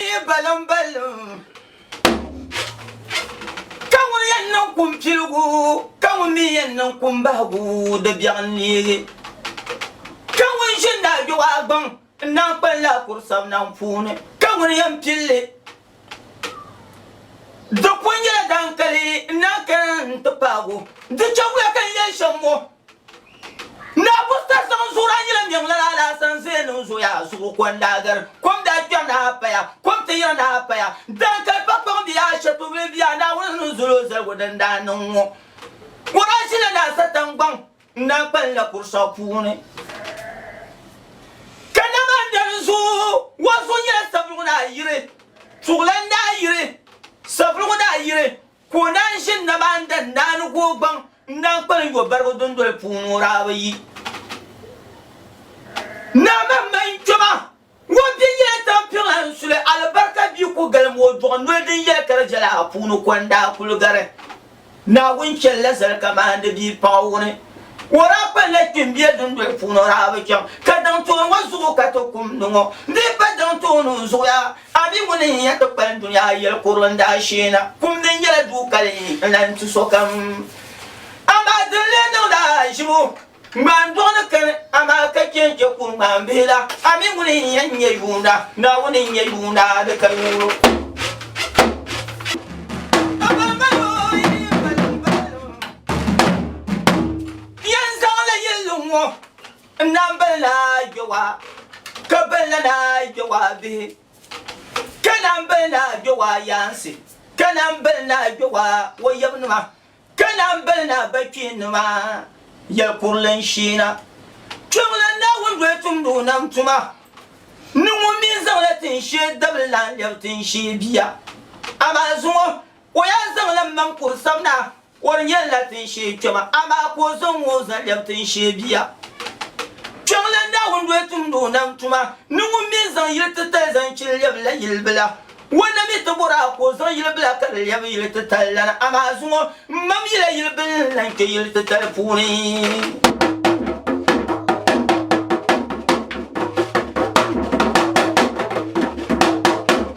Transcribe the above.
Yi baliŋ baliŋ Ka ŋun yɛn niŋ kum piligu Ka ŋun mi yɛn niŋ kum bahigu Di biɛɣu n-neegi Ka ŋun ʒi n daa duɣa gbaŋ N daa kpa n lahi kuri sabinaŋ puuni Ka ŋun yɛn pilli Di pun nyɛla dankali N daa kana n-ti paag o Di chaŋ wuya ka n yɛli shɛm ŋɔ Naa Buster zaŋ zuɣuraa nyɛla mɛŋ lala alaasa n zaya niŋ zoya zuɣu ko n daa gari kom daa kpɛri ni a paya kom ti yiri ni a paya daan kali pa kpaŋ bia a shatubili bia Naawuni ni zol o zaligu din daa niŋ ŋɔ ko daa ʒila ni a satangbɔŋ n daa kpalim la kurusɔɣu puuni ka na maa dari zuɣu wa zuɣu nyɛla savuligu ni a yiri tuɣulan ni a yiri savuligu ni a yiri Ka o naan ʒi nabaan dan daa ni gu o gbaŋ n-naan kpali n yo barigu dundoli puuni o daa bi yi. Naa man ma n kpɛma, ŋun bɛ nyɛla tampiŋla n suli alibarika bia ku galim o duɣu noli din yɛli kali viɛla a puuni ko n daa kuli gari Naawuni chɛli la zali ka maandi bia paɣa wuni o daa kpali la kpimbia dundoli puuni o daa bi chaŋ ka daŋ tooni ŋɔ zuɣu ka ti kum ni ŋɔ bee pa daŋ tooni n zuɣuya A mi ŋuni n-nyɛ kpikpali dunia yɛli kuri n daa shee na? Kum ni nyɛla du kali n lan tu sokam. Amaa di ni lee niŋdi a aʒibu ŋmaan'dɔɣu ni kani, amaa ka chɛ n chɛ kuri ŋmaan'bihi la. A mi ŋuni n-nyɛ n nyɛ yuunda? Naawuni n-nyɛ yuunda di ka yuuro. N na biri la yɔwa, ka biri la na yɔwa bihi, ka na biri na yɔwa yaansi, ka na biri na yɔwa o yabinima, ka na biri na bɛ kpiinima yɛli kurili n sheena. Kpɛŋ la Naawuni doli tumdi o nam tuma, ni ŋun mi zaŋ la tin shee dabili lan lɛbi tin shee bia. Amaa zuŋɔ o yaa zaŋ la maŋ kuri sabina. O nyɛ la tinshee kpɛma, amaa ka o zaŋ o zan lɛbi tinshee bia. Kpiɔŋlan Naawuni doli tumdi o nam tuma ni ŋun mi zaŋ yil titali zaŋ chini lɛbi la yil bila. O na mi ti bɔr a ka o zaŋ yil bila ka di lɛbi yil titali la ni, amaa zuŋɔ m mam yi la yil bil ni lan kpe yil titali puuni.